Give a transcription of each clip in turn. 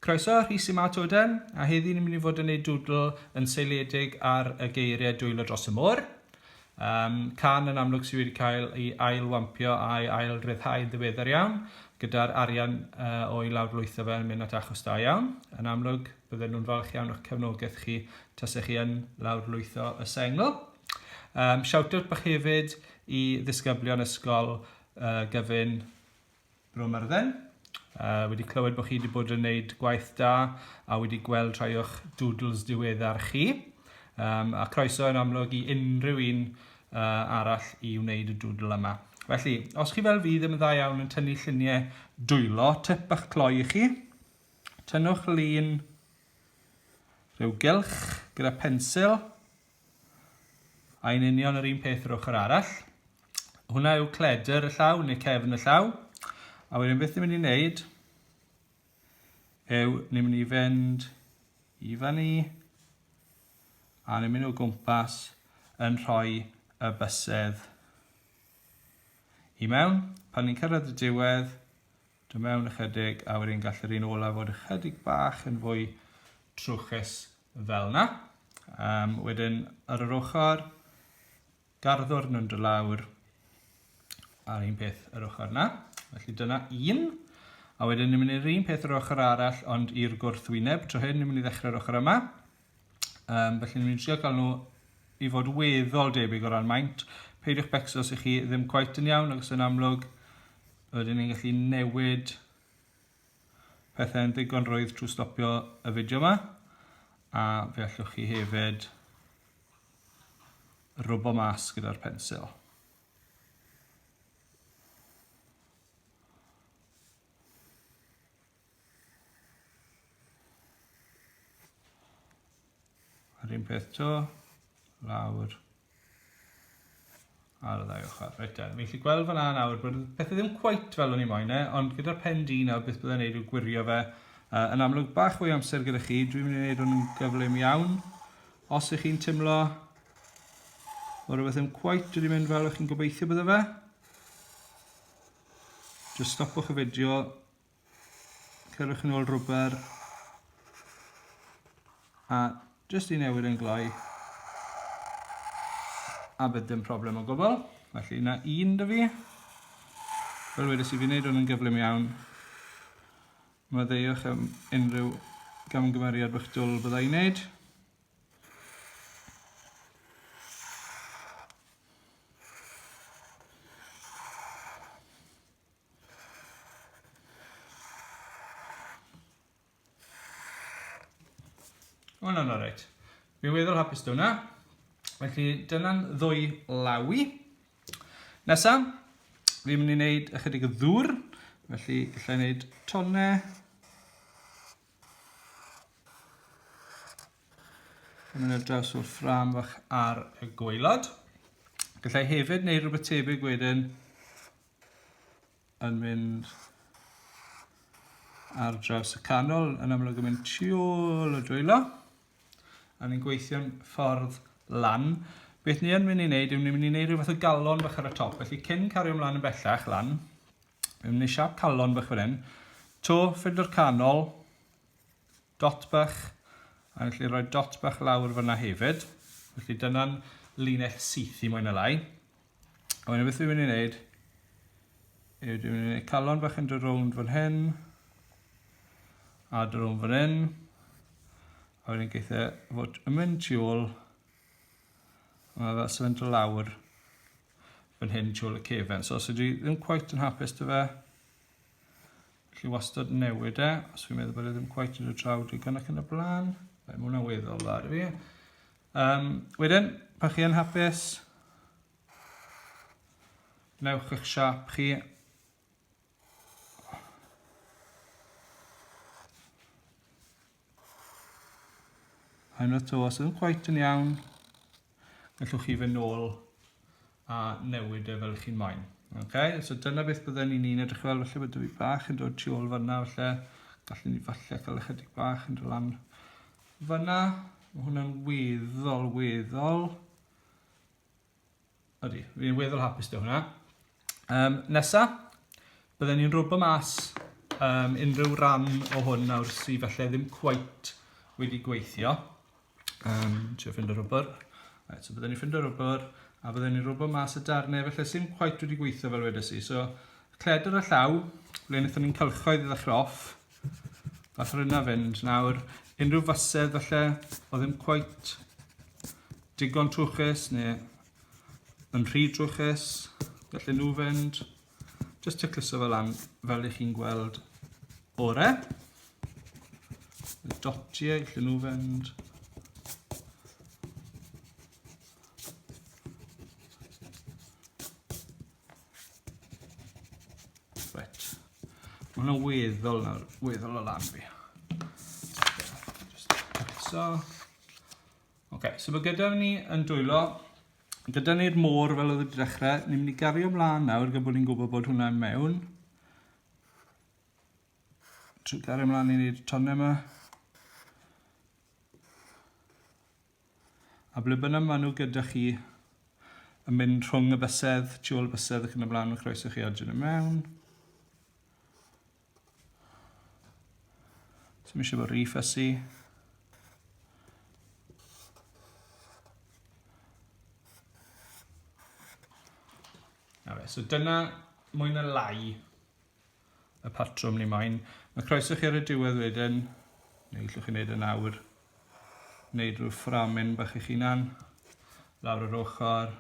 Croeso, Rhys yma to den, a heddi ni'n mynd i fod yn ei dwdl yn seiliedig ar y geiriau dwylo dros y môr. Um, can yn amlwg sydd wedi cael ei ailwampio a'i ail ryddhau yn ddiweddar iawn, gyda'r arian uh, o'i lawr lwytho fe yn mynd at achos da iawn. Yn amlwg, bydden nhw'n falch iawn o'ch cefnogaeth chi tasech chi yn lawr lwytho y sengl. Um, Shout-out bych hefyd i ddisgyblion ysgol uh, gyfyn Bro Myrddin. Uh, wedi clywed bod chi wedi bod yn gwneud gwaith da a wedi gweld rhai o'ch doodles diweddar chi. Um, a croeso yn amlwg i unrhyw un uh, arall i wneud y doodle yma. Felly, os chi fel fi ddim yn dda iawn yn tynnu lluniau dwylo, tip bach cloi i chi, tynnwch lun rhyw gylch gyda pensil, A yn union yr un peth yr ochr arall. Hwna yw cledr y llaw neu cefn y llaw. A wedyn beth ni'n mynd i wneud yw ni'n mynd i fynd i fan ni a ni'n mynd o gwmpas yn rhoi y bysedd i mewn. Pan ni'n cyrraedd y diwedd, Do mewn ychydig a wedyn gall yr un olaf fod ychydig bach yn fwy trwchus fel yna. Um, wedyn ar yr ochr, garddwr nhw'n dod lawr a'r un peth yr ochr yna. Felly dyna un. A wedyn ni'n mynd i'r un peth yr ochr arall ond i'r gwrthwyneb. Tro hyn ni'n mynd i ddechrau'r ochr yma. Um, felly, ni'n trio cael nhw i fod weddol debyg o ran maint. Peidiwch becso os ych chi ddim cwaith yn iawn, ac yn amlwg, rydyn ni'n gallu newid pethau'n ddigon rwydd trwy stopio y fideo yma. A fe allwch chi hefyd rwbo mas gyda'r pensil. Yr un peth to, lawr ar y ddau ochr. Reit da, fi'n gallu gweld fanna nawr bod pethau ddim cweit fel o'n i moyn e, ond gyda'r pen di nawr beth byddai'n neud yw gwirio fe. Uh, yn amlwg bach o'i amser gyda chi, dwi'n mynd i wneud hwn yn gyflym iawn. Os ych chi'n tymlo o rhywbeth ddim cweit wedi mynd fel o'ch chi'n gobeithio bydde fe, just stopwch y fideo, Cyrwch yn ôl rwber. A jyst i newid yn gloi. A bydd dim problem o gwbl. Felly yna un dy fi. Fel wedys i fi wneud hwn yn gyflym iawn. Mae ddeuwch am unrhyw gamgymeriad bych dwl byddai i wneud. O, na, na, reit. Fi'n weddol hapus dweud hwnna. Felly, dyna'n ddwy lawi. Nesa, fi'n mynd i wneud ychydig o ddŵr. Felly, gallai wneud tonne. Yn mynd draws o'r ffram fach ar y gweilod. Gallai hefyd wneud rhywbeth tebyg wedyn yn mynd ar draws y canol, yn amlwg yn mynd tu ôl y dwylo, a ni'n gweithio'n ffordd lan. Beth ni yn mynd i wneud yw ni'n mynd i wneud rhywbeth o galon bach ar y top, felly cyn cario ymlaen yn bellach lan, ni'n mynd i siap calon bach fan hyn, to ffindwr canol, dot bach, a ni'n gallu rhoi dot bach lawr fyna hefyd. Felly dyna'n linell syth i mwy na lai. A wedyn beth dwi'n mynd i wneud yw dwi'n mynd i wneud calon bach yn dod rownd fan hyn a dod rownd fan hyn a wedyn geith e fod yn mynd tu ôl a mae fel sefynt o lawr fan hyn tu ôl y cefen. So os ydy ddim cwaith yn hapus dy fe, chi wastad newid e, os fi'n meddwl bod e ddim cwaith yn y traw digon ac yn y blaen, mae hwnna'n weddol dda i fi. Um, wedyn, pa chi yn hapus, newch eich siap chi. Hyn y to, os ydym cwaith yn iawn, gallwch chi fy nôl a newid e fel chi'n moyn. Okay? So dyna beth bydden ni'n un edrych fel, felly bydde fi bach yn dod tu ôl fanna, felly gallwn ni falle cael ychydig bach yn dod lan fanna. Mae hwnna'n weddol, weddol. Ydy, fi'n weddol hapus dy hwnna. Um, nesa, bydden ni'n rwbo mas um, unrhyw ran o hwn nawr sydd falle ddim cweit wedi gweithio. Um, Tio ffind y rwbr. Right, so byddwn ni'n ffind y rwbr, a byddwn ni'n rwbr mas y darnau, felly sy'n quite wedi gweithio fel wedes i. So, cledr a llaw, ble wnaethon ni'n cylchoedd i ddechrau off. Fath o'r yna fynd. Nawr, unrhyw fasedd falle, o ddim quite digon trwchus, neu yn rhy drwchus, felly nhw fynd. Just tacluso fe lan fel ych chi'n gweld ore. Dotie, lle nhw fynd. Right. Mae hwnna weddol, weddol o lan fi. Just tacluso. Okay, so mae gyda ni yn dwylo Gyda ni'r môr fel oedd wedi dechrau, ni'n mynd i gario mlaen nawr gyda bod ni'n gwybod bod hwnna'n mewn. Trwy gario mlaen i wneud y tonnau yma. A ble bynnag maen nhw gyda chi yn mynd rhwng y bysedd, tu ôl y bysedd ac yn y blaen, mae'n croeso chi adjyn y mewn. So mi eisiau bod rhi ffysi. so dyna mwy na lai y patrwm ni moyn. Mae croeso chi ar y diwedd wedyn, neu llwch chi'n neud yn awr, neud rhyw fframin bach eich hunan, lawr yr ochr,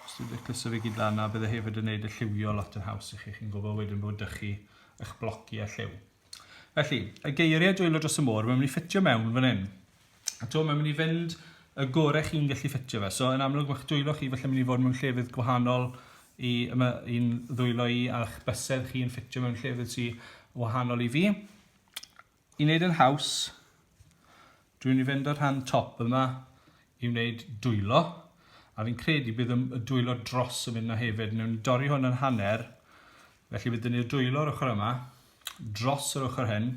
Os ti'n fficyso fe gyd lan 'na bydde hefyd yn neud y lliwio lot yn haws i chi, chi'n gwbo wedyn bod 'da chi ych bloci a lliw. Felly, y geirie dwylo dros y môr, mae'n mynd i ffitio mewn fan hyn. A to, mae'n mynd i fynd y gore chi'n gallu ffitio fe. So, yn amlwg, mae'ch dwylo chi felly mynd i fod mewn llefydd gwahanol i yma i'n ddwylo i, a'ch bysedd chi'n ffitio mewn llefydd sy'n wahanol i fi. I wneud yn haws, dwi'n mynd i fynd â'r rhan top yma i wneud dwylo, a fi'n credu bydd y dwylo dros yn mynd na hefyd. Newn ni dorri hwn yn hanner, felly bydd ni'r dwylo o'r ochr yma, dros yr ochr hyn.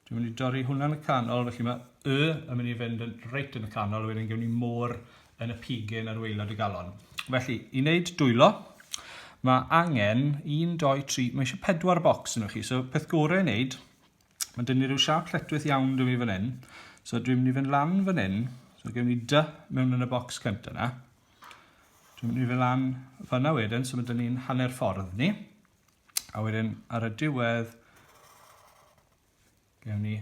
Dwi'n mynd i dorri hwnna'n y canol, felly mae Y yn mynd i fynd yn reit yn y canol, wedyn gewn ni môr yn y pigyn ar waelod y galon. Felly, i wneud dwylo, mae angen 1, 2, 3, mae eisiau 4 bocs yn chi. So, peth gorau i wneud, mae dyn ni rhyw siap lletwith iawn dwi fan hyn. So, dwi'n mynd i fynd lan fan hyn. So, gewn ni dy mewn yn y bocs cynt yna. Dwi'n mynd i fynd lan fanna wedyn, so mae dyn ni'n hanner ffordd ni. A wedyn, ar y diwedd, Gewn ni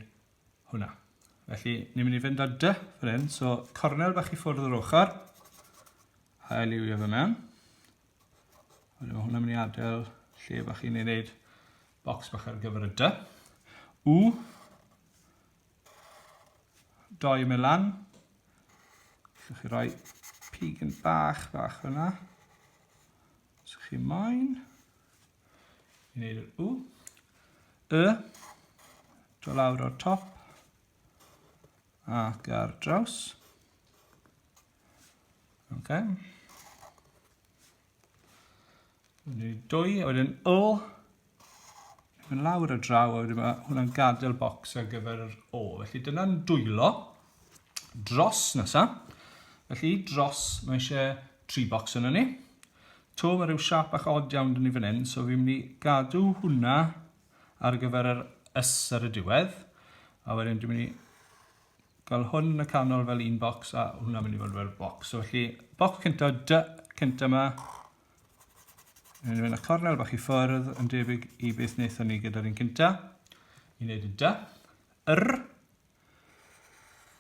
hwnna. Felly, ni'n mynd i fynd â dy fan hyn. So, cornel bach i ffwrdd yr ochr. Hael i wio fe mewn. Ond mae hwnna'n mynd i adael lle bach i ni wneud bocs bach ar gyfer y dy. U. Doi mynd lan. Llwch chi roi pig yn bach, bach fyna. Os chi moyn. Ni'n neud yr u. Y. Do lawr o'r top. Ac ar draws. Ok. Ni'n neud dwy, a wedyn o. Yn lawr y draw, a wedyn mae hwnna'n gadael bocs ar gyfer yr o. Felly dyna'n dwylo. Dros nesa. Felly dros, mae eisiau tri bocs yna ni. To, mae rhyw siap bach odd iawn dyn ni fan hyn, so fi'n mynd i gadw hwnna ar gyfer yr ys ar y diwedd. A wedyn dwi'n mynd i gael hwn yn y canol fel un bocs a hwnna'n mynd i fod fel bocs. So felly, bocs cynta, dy cynta yma. Dwi'n mynd i fynd â cornel bach i ffwrdd yn debyg i beth wnaethon ni gyda'r un cynta. I wneud y dy. Yr.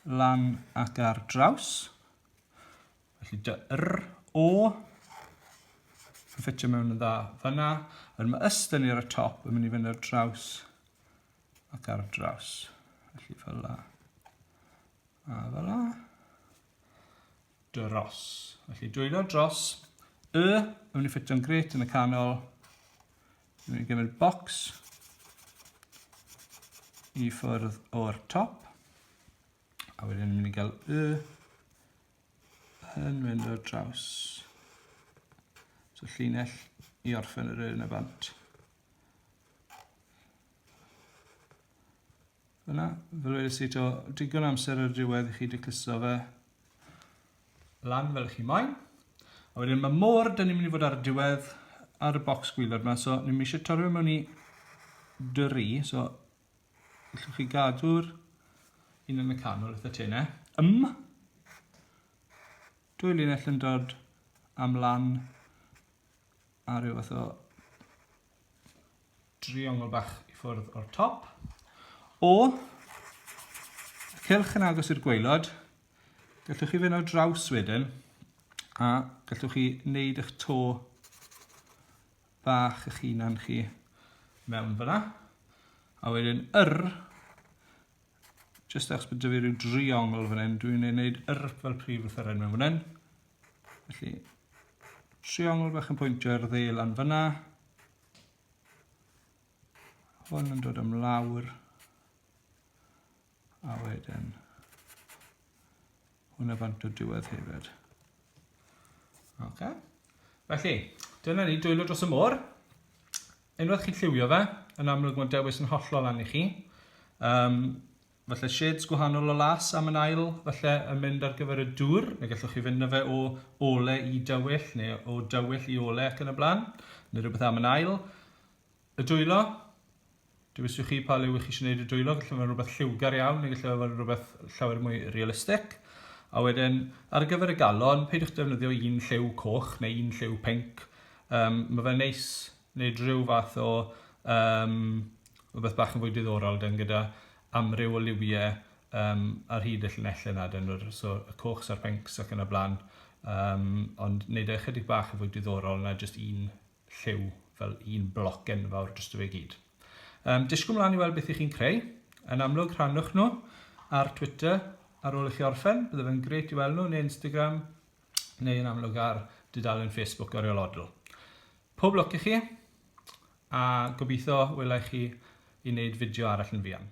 lan ac ar draws. Felly dy yr o yn ffitio mewn yn dda fyna. Yr mae yst yn i'r y top yn mynd i fynd ar draws ac ar draws. Felly fel la. A fel la. Dros. Felly dwylo dros. Y yn mynd i ffitio'n gret yn y canol. Dwi'n mynd i gymryd box i ffwrdd o'r top. A wedyn ni'n mynd i gael y yn mynd o'r draws. So llinell i orffen yr yn y bant. Fyna, fel wedi si to, digon amser ar y diwedd i chi decluso fe. lan fel chi moyn. A wedyn mae môr, dyn ni'n mynd i fod ar y diwedd ar y bocs gwylod yma, so ni'n eisiau torri mewn i dri, so allwch chi gadw'r un yn y canol wrth y tenau. Ym, dwy linell yn dod am lan a rhyw fath o driongl bach i ffwrdd o'r top. O y cylch yn agos i'r gwaelod, gallwch chi fynd ar draws wedyn a gallwch chi wneud eich to bach eich hunan chi mewn fyna. A wedyn yr, jyst achos bod dyfu rhyw driongl fan hyn, dwi'n ei wneud yr fel prif lythyren mewn fan hyn. Felly, triongl bach yn pwyntio i'r ddeil lan fyna. Hwn yn dod am lawr. A wedyn hwnna bant o diwedd hefyd. Okay. Felly, dyna ni dwylo dros y môr. Unwaith chi'n lliwio fe, yn amlwg mae'n dewis yn hollol lan i chi. Um, falle shades gwahanol o las am yn ail falle yn mynd ar gyfer y dŵr, neu gallwch chi fynd na fe o ole i dywyll neu o dywyll i ole ac yn y blaen, neu rhywbeth am yn ail. Y dwylo, dywyswch chi pa le wych chi eisiau gwneud y dwylo, gallai fod yn rhywbeth lliwgar iawn neu gallai fod yn rhywbeth llawer mwy realistig. A wedyn, ar gyfer y galon, peidiwch defnyddio un lliw coch neu un lliw pink. Um, mae fe neis wneud rhyw fath o um, rhywbeth bach yn fwy diddorol dan gyda amryw o liwie um, ar hyd y llinellau yna, dan yr, so, y cochs a'r pencs ac yn y blaen, um, ond wneud e ychydig bach yn fwy diddorol na jyst un lliw fel un bloc enfawr dros y fe gyd. Um, disgwyl mlaen i weld beth i chi'n creu. Yn amlwg, rhannwch nhw ar Twitter ar ôl i chi orffen. Bydde fe'n greit i weld nhw yn Instagram, neu yn amlwg ar dudalen Facebook Oriel Odl. Pob lwc i chi, a gobeithio wela i chi i wneud fideo arall yn fuan.